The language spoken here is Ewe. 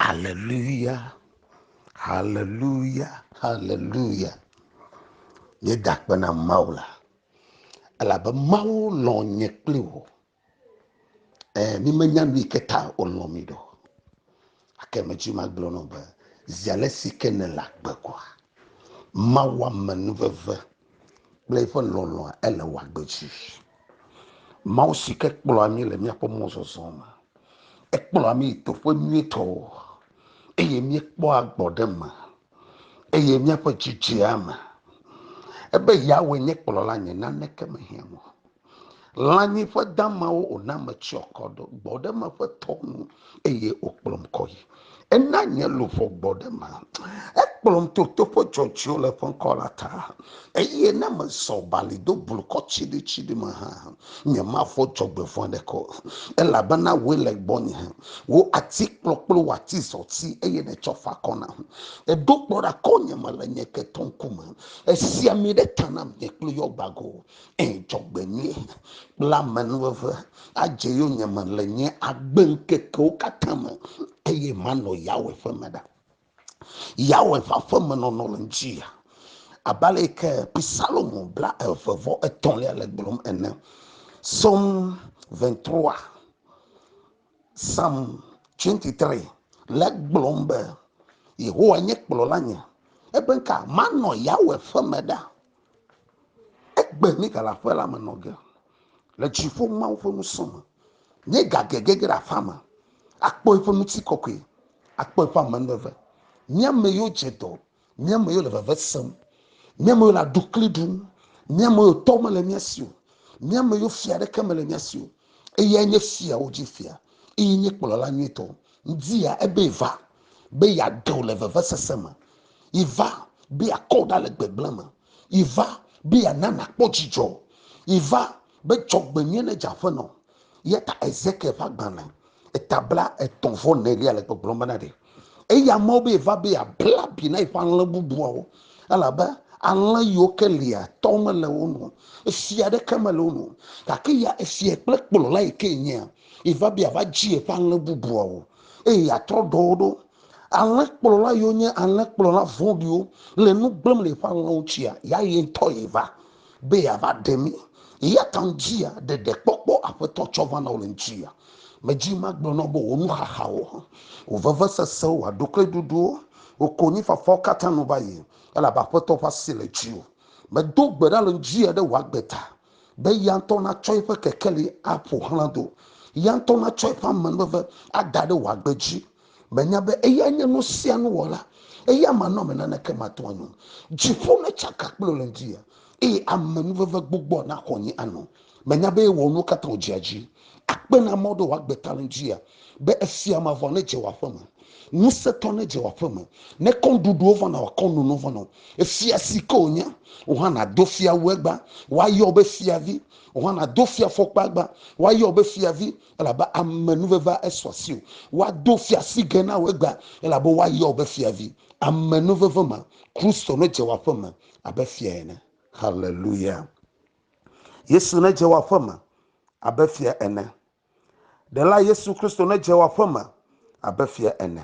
Aleluya, aleluya, aleluya. Míeda akpe na Mawu la elabe Mawu lɔ̃ nye kple wò. E, mímenya nu yi ke ta wòlɔ̃ mí ɖo. Gake medzi magblɔ nɔ be zi ale si ke nèle agbe kɔa, Mawu ame nuveve kple eƒe lɔlɔ̃a ele wɔ agbe dzi. Mawu si ke kplɔa mí le míaƒe mɔzɔzɔ me. Ekplɔa mí yi teƒe nyuitɔ eye míekpɔa gbɔ ɖe me eye míaƒe dzi dzea eme. Ebe Yahweh nye kplɔla nye naneke mehiã mo. lãnyiƒe damawo wòna metsyɔ akɔ ɖo gbɔ ɖe eme ƒe tɔ nu eye wòkplɔm kɔ yi. Ena nye luʋɔ gbɔ ɖe eme. Ekplɔm to toƒe dzɔdzɔewo le ƒe ŋkɔ la ta eye ne mezɔ bali do blukɔ tsiɖitsiɖi me hã, nyemavɔ̃ dzɔgbevɔ̃e aɖeke o, elabena wòe le gbɔnye. Wò ati kplɔ kple wò ati zɔti eye nètsɔ fa akɔ nam. Èɖo kplɔ̃ ɖe akɔnye me le nye ketɔ ŋkume. Èsi ami ɖe ta nam nye kpli yɔ gbago. Ŋdzɔgbenyui kple amenuveve adze yonyeme le nye agbeŋkekewo katã me, eye manɔ Yahweh ƒe me ɖa. Yahweh ƒe aƒemenɔnɔ le ŋdzi ya. Abe ale yi ke Psalmo bla eve vɔ etɔ̃lia le gblɔm ene. Psalm 23. Psalm 23 le gblɔm be, Yehowa nye kplɔla nye, ebe ka manɔ Yahweh ƒe me ɖa. Egbe ni gale aƒe la me nɔ ge, le dziƒo Mawu ƒe ŋusẽ me. Nye gage gege ɖe aƒea me, akpɔ eƒe ŋutikɔkɔe, akpɔ eƒe amenuveve. Nye ame yiwo dze dɔ mía me yole veve sem mía me yole adukli ɖum mía me yo tɔ mele mía si o mía me yo fia ɖeke mele mía si o eyae nye fiawo dzi fia eye nye kplɔla nyuitɔ ŋdi ya ebe va be yeaɖe wò le vevesese me yiva be yeakɔ wò ɖa le gbegblẽ me yiva be yeana nàkpɔ dzidzɔ yiva be dzɔgbenyui ne dze aƒenɔ Yata Ezekiel ƒe agbalẽ etabla etɔ̃ vɔ nelia le gbɔgblɔm bena ɖe eya mɔ be va be abla bi na eƒe alẽ bubuawo elabe alẽ yiwo ke lia tɔ mele wo nu esia ɖeke mele wo nu gake ya esia kple kplɔla yi ke nyea eva be ava dzi eƒe alẽ bubuawo eye atrɔ ɖɔ wo ɖo Alẽkplɔla yiwo nye alẽkplɔla vɔ̃ɖiwo le nu gblẽm le eƒe alẽwo tsia, ya ye ŋutɔ ye va be yeava ɖe mí. Eya ta ŋudzia, ɖeɖekpɔkpɔ Aƒetɔ tsɔ va na wò le ŋutia. Medzi magblɔ na wò be wò nuxaxawo, wò vevesesewo, wò aɖukliɖuɖuwo, wò konyifafawo katã nu va yi, elabe Aƒetɔ ƒe asi le dziwò. Medo gbe ɖa le ŋudzia ɖe wò agbe ta, be eya ŋutɔ natsɔ eƒe kekeli aƒo xlã do, eya ŋutɔ natsɔ eƒe amenuveve ada ɖe wò agbe dzi, Menya be eyae nye nu sia nu wɔla, eya manɔame naneke mate ŋu anyo. Dziƒo netsaka kple le ŋdi, eye amenuveve gbogboa naxɔ nye ano. Menya be ewɔ nuwo katã wòdzea dzi, akpe na amewo ɖe wòagbe ta le ŋdi, be efia mavɔ nedze wò aƒe me, ŋusẽtɔ nedze wò aƒe me, ne kɔnɖuɖuwo va na wòakɔ nono vɔ na wò. Efia si ke wònye, wò hã nàdo fia wu egbea, woayɔ wò be fiavi, wò hã nàdo fiafɔkpa egbea, woayɔ wò be fiavi. Elabe ame nuvevea esu asi o. Woado fiasigɛ na wò egbea, elabe woayɔ wò be fiavi. Ame nuveve ma, Kristo nedze wò aƒe me abe fia ene. Haleluya! Yesu nedze wò aƒe me abe fia ene. Ɖela Yesu Kristo nedze wò aƒe me abe fia ene.